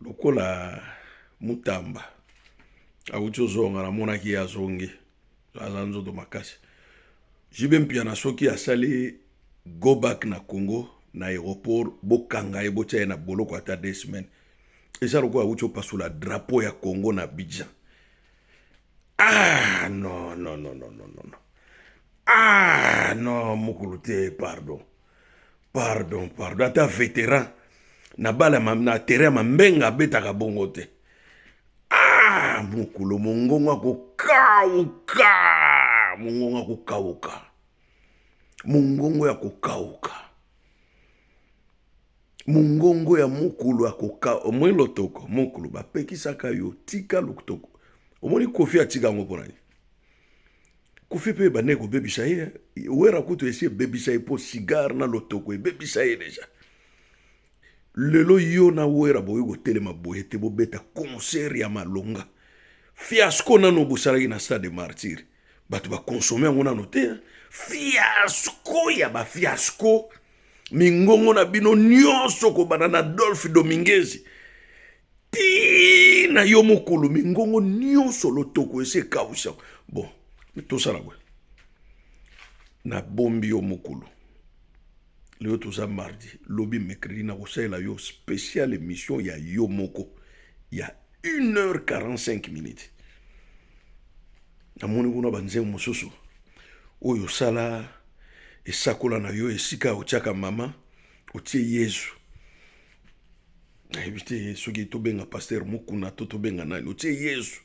Lokola Mutamba awuti ozonga, namonaki ye azongi, aza nzoto makasi. JB Mpiana soki asali go back na Congo na aéroport, bokanga ye botia ye na boloko ata deux semaines. Eza lokola awuti opasula drapeau ya Congo na Abidjan. Ah non non non non non non. Ah non mukulu te pardon. pardon pardon ata veteran na bala na terrain ya mambenga abetaka bongo te ah mokolo mongongo akokauka mongongo akokauka mongongo ya kokauka mongongo ya mokulu ya koka omoni lotoko mokulu bapekisaka yo tika lotoko omoni kofi atika yango mpo na nini Koffi pe ebandaki kobebisa ye wera kutu esi ebebisa ye mpo cigare na lotoko ebebisa ye deja lelo yo na wera bokoki kotelema boye te bobeta concert ya malonga fiasco nano bosalaki na stade de martyr bato bakonsome yango nano te fiasco ya bafiasco mingongo na bino nyonso kobanda na adolphe domingesi tii na yo mokolo mingongo nyonso lotoko esi ekausa bon tosala boye nabombi yo mokolo lelo toza mardi lobi mercredi nakosalela yo special émission ya yo moko ya 1 heure 45 minutes namoni kuna banzembo mosusu oyo osala esakola na yo esika otyaka mama otie yezu nayebi te soki tobenga paster mokuna to tobenga nani otie yesu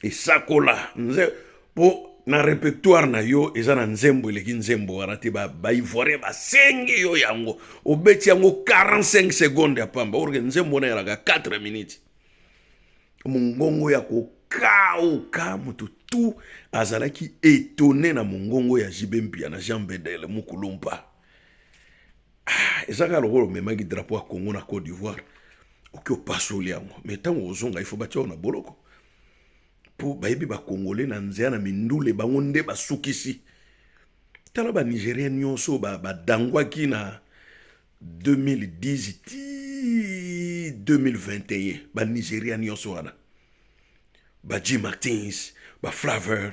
esakola nze mpo na repertoire na yo eza na nzembo eleki nzembo wana te baivoirien ba basengi yo yango obeti yango 45 seconde ya pamba orke nzembo wana yalaka 4 minutes mongongo ya kokauka moto tu azalaki etone na mongongo ya jibe mpia na jean bedel mukulumpa ah, eza kaka lokola omemaki drapo ya congo na cote d'ivoire oki opasoli yango me ntango ozonga ifo batya yo na boloko mpo bayebi bakongole na nzela na mindule bango nde basukisi tala banigerien nyonso badangwaki ba na 2010 ti 2021 banigeria nyonso wana ba jim martins ba flaveur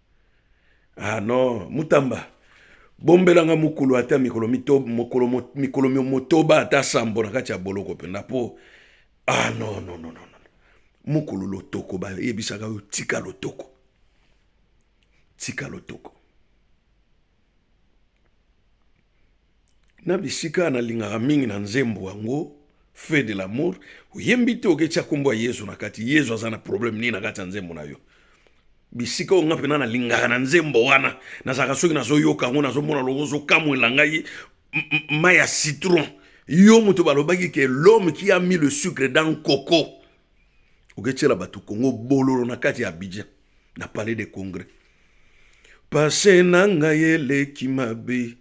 Ah non, Mutamba, bombelanga mukulu ata mikolo mito mokolo mikolo motoba ata sambo na kati ya boloko penda po ah non non non non mukulu lotoko ba yebisaka yo tika lotoko tika lotoko na bisika nalingaka mingi na nzembo yango feu de l'amour oyembi te oketya nkombo ya yezu na kati yezu aza na problème nini na kati ya nzembo na yo bisika oyo nga mpena nalingaka na nzembo wana nazalaka soki nazoyoka yango nazomona loko ozokamwela ngai mai ya citron yo moto balobaki ke l'homme qui a mis le sucre dans coco oketyela bato kongo bololo na kati ya abidjan na palais de congrès pase na ngai eleki mabe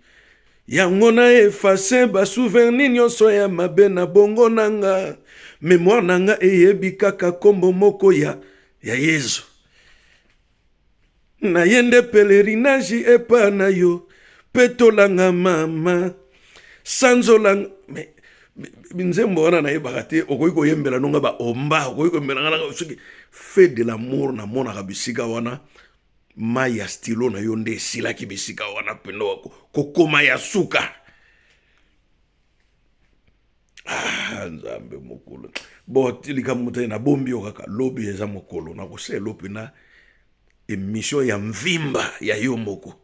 yango na efase basouverni nyonso ya mabe na bongo na nga memoire na nga eyebi kaka nkombo moko ya, ya yezu na ye nde pelerinage epa na yo petolanga mama sanzola mais nzembo wana nayebaka te okoki koyembela nonga baomba okoki koyembela nga nanga soki fe de lamour namonaka bisika wana mai ya stilo na yo nde esilaki bisika wana mpenda kokoma ya suka ah, nzambe mokolo bo likambo motali nabombi yo kaka lobi eza mokolo nakoselo mpena emission ya mvimba ya yo moko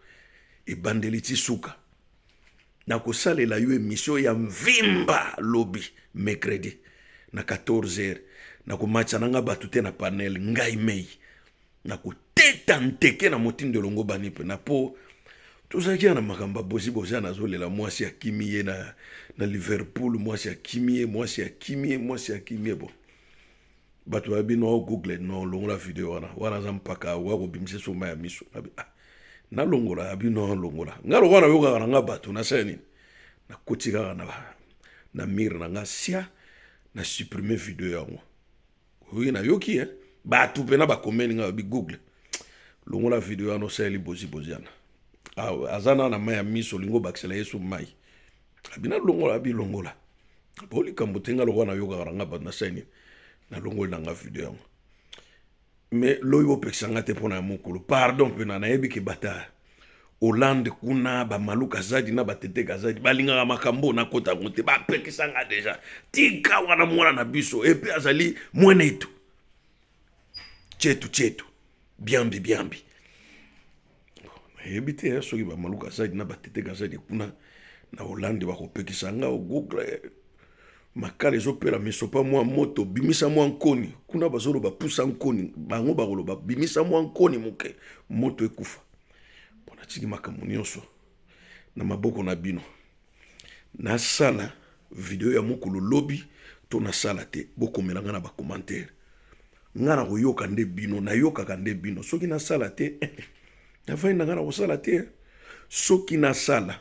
ebandeli ti suka nakosalela yo emission ya mvimba lobi mercredi na 14 heures nakomatisa na ngai bato te na panel ngai mei nakoteta nteke na motindo elongo bani mpe na po tozalaki ya na makambo ya bozi bozi ana azolela mwasi akimi ye na, na liverpool mwasi akimi ye mwasi akimi ye mwasi akimi ye bo bato ba bino o google no longola video wana wana aza mpaka okoya kobimisa soma ya miso ah, nalongola ya bino alongola nga lokola nayokaka na nga bato nasala nini nakoti kaka na, na mire na nga sia na supprime video yango oyo nayoki eh? bato mpena bakomeli nga bi google longola video wana osaleli bozibozi yana ah, aza na na mai ya miso olingi obakisela yesu mai abi nalongola abi longola po likambo te nga lokola nayokaka na nga bato na sani nalongoli na nga video yango mais loyi bopekisa nga te mpo na ya mokolo pardon mpena nayebi ke batard hollande kuna bamalu kazadi na batete kazadi balingaka makambo na kota yango te bapekisa nga deja tika wana mwana na biso epe azali mwenetu chetu chetu biambi biambi nayebi te eh, soki bamalu kazadi na batete kazadi kuna na holande bakopekisa nga ogoogla eh, makala ezopela misopa mwa moto bimisa mwa nkoni kuna bazoloba pusa nkoni bango bakoloba bimisa mwa nkoni moke moto ekufa mpo natiki makambo nyonso na maboko na bino Nasala video ya mokolo lobi to nasala te bokomela nga na ba commentaire nga na koyoka nde bino nayokaka nde bino soki nasala te navandi na nga na kosala te soki nasala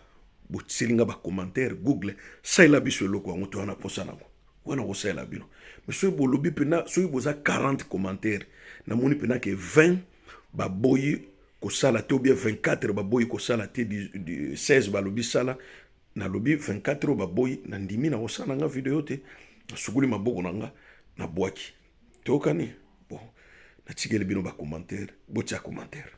botiseli nga ba commentaire google salela biso eloko yango toya na posa nango wana kosalela bino me soki bolobi mpena soki boza 40 commentaire namoni mpena ke 20 baboyi kosala te obie 24 baboyi kosala te 16 balobi sala nalobi 24 oyo baboyi nandimi na kosala na nga video te nasukuli maboko na nga na bwaki tokani bon natikeli bino bacommentaire botia commentaire